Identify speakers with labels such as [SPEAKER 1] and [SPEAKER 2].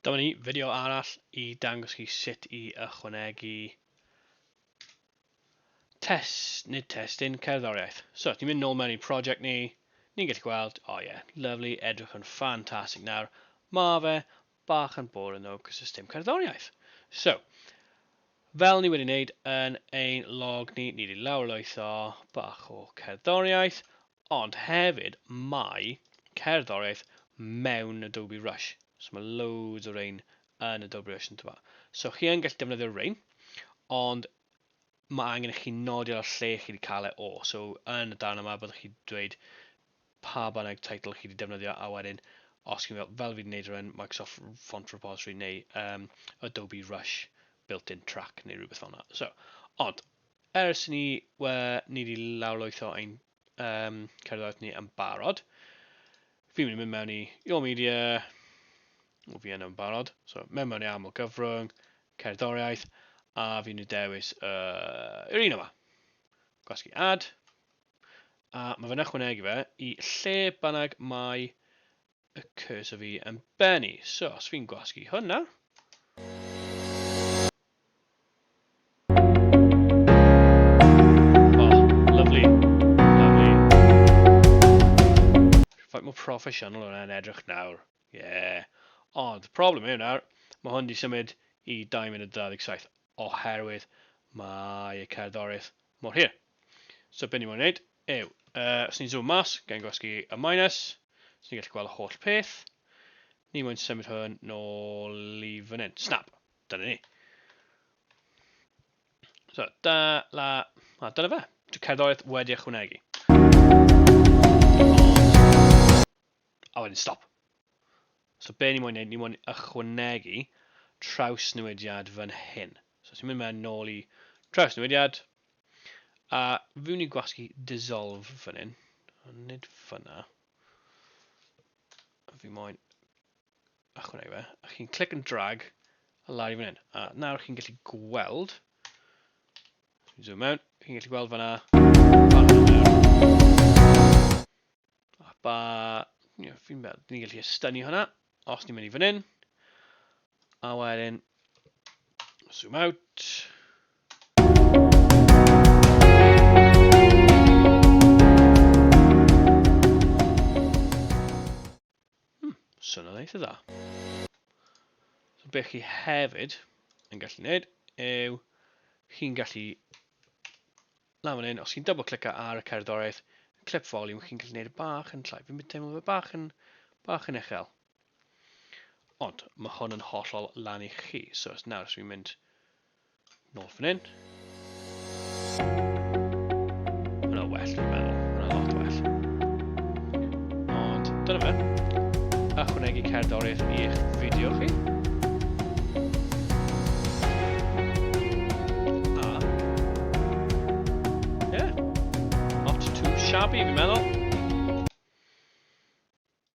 [SPEAKER 1] Dyma ni fideo arall i dangos chi sut i ychwanegu test, nid testyn, cerddoriaeth. So, ni'n mynd nôl mewn i project ni, ni'n gallu gweld, o oh ie, yeah, lovely, edrych yn ffantastig nawr. Mae fe bach yn boring o cos dim cerddoriaeth. So, fel ni wedi wneud yn ein log ni, ni wedi lawrlwytho bach o cerddoriaeth, ond hefyd mae cerddoriaeth mewn Adobe Rush. So mae loads o rein yn Adobe Rush yn tyfa. So chi yn gallu defnyddio rein, ond mae angen i chi nodi ar y lle chi wedi cael e o. So yn y darn yma byddwch chi dweud pa bynnag teitl chi wedi defnyddio a wedyn os chi'n fel, fel fi wedi gwneud rhywun Microsoft Font Repository neu um, Adobe Rush built-in track neu rhywbeth fel yna. So, ond, ers ni, we, ni wedi lawrlwytho ein um, cerddoriaeth ni yn barod, fi'n mynd i mynd mewn i Your Media, o fi yn yn barod, so mewn mewn i aml gyfrwng, cerddoriaeth, a fi'n mynd i dewis uh, yr un yma. Gwasgu ad, A mae fe'n ychwanegu fe i lle bynnag mae y cursor fi yn bennu. So, os fi'n gwasgu hwnna, proffesiynol hwnna yn edrych nawr. Ie. Yeah. Ond, problem yw nawr, mae hwn wedi symud i 2 munud 27. oherwydd mae y cerddoriaeth mor hir. So be ni moyn wneud yw, uh, os ni'n zoom mas, gen gwasgu y minus, so ni'n gallu gweld y holl peth. Ni moyn symud hwn nôl i fan hyn. Snap! Dyna ni. So, da, la, a dyna fe. Dwi'n cerddoriaeth wedi ychwanegu. A wedyn stop. So be ni moyn neud, ni moyn ychwanegu trawsnewidiad fan hyn. So os ti'n mynd mewn nôl i trawsnewidiad, a fi'n ni gwasgu dissolve fan hyn, ond nid fyna. Fi moyn ychwanegu fe, a chi'n click and drag a lawr i fan hyn. A nawr chi'n gallu gweld, zoom mewn, chi'n gallu gweld fanna, A ba... Ie, fi'n meddwl, ni'n gallu estynu hwnna, os ni'n mynd i fan hyn. A wedyn, zoom out. Hmm, Swn o'n eitha dda. So beth chi hefyd yn gallu gwneud yw chi'n gallu Lawr fan hyn, os chi'n double clicio ar y cerddoriaeth, clip volume, chi'n gallu gwneud y bach yn llai. Fi'n teimlo fe bach yn, bach yn uchel. Ond mae hwn yn hollol lan i chi. So os nawr, os fi'n mynd nôl fan hyn. Mae'n well, dwi'n meddwl. Mae'n lot well. Ond dyna fe. Ychwanegu cerddoriaeth i'ch fideo chi. A... Yeah. Not too shabby, fi'n meddwl.